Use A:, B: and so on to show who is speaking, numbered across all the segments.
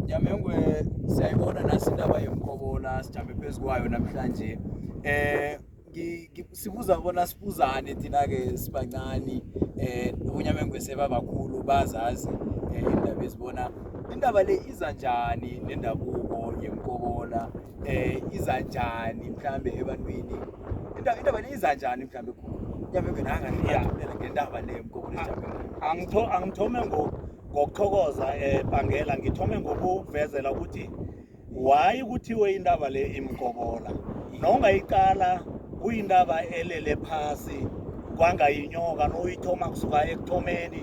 A: Nyamengwe siyayibona nasi indaba yemkhobola sijame phezu kwayo namhlanje eh sibuza bona sibuzane thina-ke sibancani eh unyamengwe sebabakhulu bazazi eh, indaba ezibona indaba le iza njani nendabuko yemkobola eh iza njani mhlambe ebantwini indaba indaba le iza njani mhlambe yabeke nanga ngiyathumela ngendaba le mkobola angithome ngoku
B: ngokuthokoza um bangela ngithome ngokuvezela ukuthi wayi kuthiwe indaba le imgobola nongayiqala kuyindaba elele phasi kwangayinyoka noyithoma kusuka ekuthomeni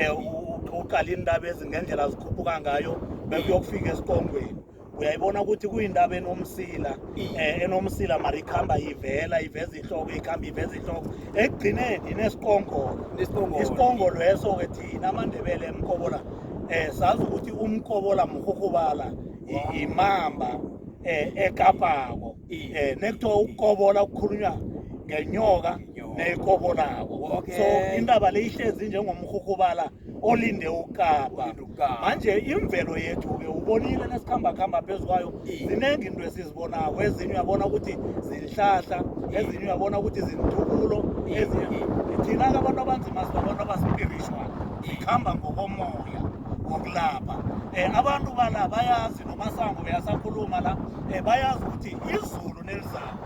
B: um uqala iindaba ezingendlela zikhuphuka ngayo bekuyokufika esiqongweni uyayibona ukuthi kuyindaba enomsila um enomsila mara ikhamba ivela iveza ihloko ikhamba iveza ihloko ekugcineni inesikongolo isikongolo eso-ke thina amandebele emkobola um eh, sazi ukuthi umkobola mrhurhubala yimamba um eh, ekapako um nekuthiwa ukukobola kukhulunywa ngenyoka neyikobolako so indaba le ihlezi njengomrhurhubala olinde ukapa Olinde ukapa. manje imvelo yethu-ke ubonile nesikhamba khamba phezu kwayo Iye. ziningi into esizibonako ezinye uyabona ukuthi zinhlahla Iye. ezinye uyabona ukuthi zintukulo Iye, ezinye iye. thina-ke abantu abanzima sibabantu abaspiritual sikhamba ngokomoya wokulapha um abantu bala bayazi nomasango beyasakhuluma la um bayazi ukuthi izulu nelizako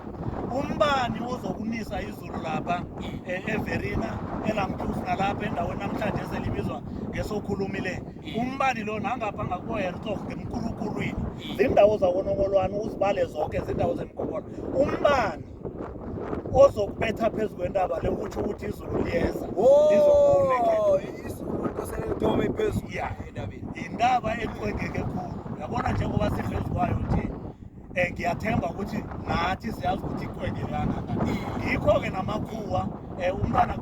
B: umbani ozokunisa izulu Enkulu lapha eh, eVerina elamthusi nalapha endaweni namhlanje eselibizwa ngesokhulumi le mm. umbani lo nangapha ngakubohertog ngemkulukulwini mm. zindawo zakonokolwani uzibale zonke zindawo zemgobolo umbani ozokubetha phezu kwentaba le utsho ukuthi izulu liyeza oh, yintaba eqwengeke khulu yabona njengoba siphezu kwayo nje um ngiyathemba ukuthi nathi siyazi ukuthi iqwede kangaka ngikho-ke namakhuwa um umntana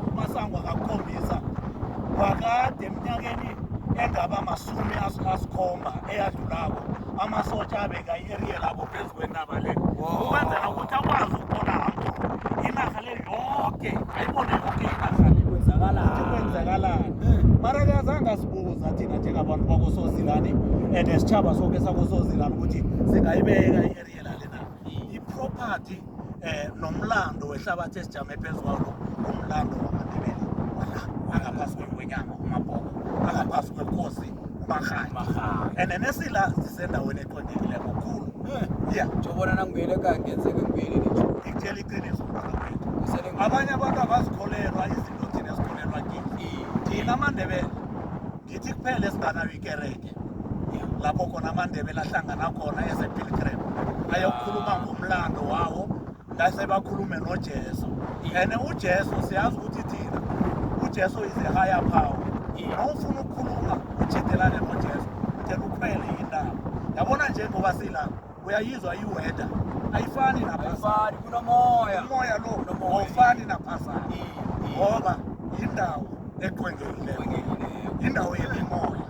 B: umasangwa ngakukhombisa kwakade eminyakeni engaba masumi asikhomba eyadlulako amasotha abeka i-eriya labo phezu kwenaba le ukwenzela ukuthi akwazi ukuthola hambo inarha le yoke ayibone yoke inarhani kwenzakalani mara-ke eh. azange asibuza thina njengabantu bakosozilani and sitshaba soke sakosozilani ukuthi singayibeka i-ariela lena i-property um nomlando wehlabathi esijame phezu kwalo umlando wamandebele wala angaphasi kwenyama umabhoko angaphasi kwekosi umarhani and nesila sisendaweni ophakekileko khulu ya jobona
A: nangibuyele kangenzeke ngibuyele ngitshela
B: iqiniso abanye abantu abazikholelwa izinto thina ezikholelwa kithi thina amandebele ngithi kuphela esinganayo ikereke lapho khona amandebele ahlangana khona ezepilgrim ayokukhuluma ngomlando wawo Ngase bakhulume noJesu. And uJesu siyazi ukuthi thina uJesu is a higher power. Awufuna ukukhuluma ujidelane noJesu. Then ukhwele indaba. Yabona nje ngoba sila uyayizwa iweather. Ayifani naphasana. Kunomoya. Umoya
A: lo
B: awufani naphasana. Ngoba yindawo eqwengekileyo. Yindawo yemimoya.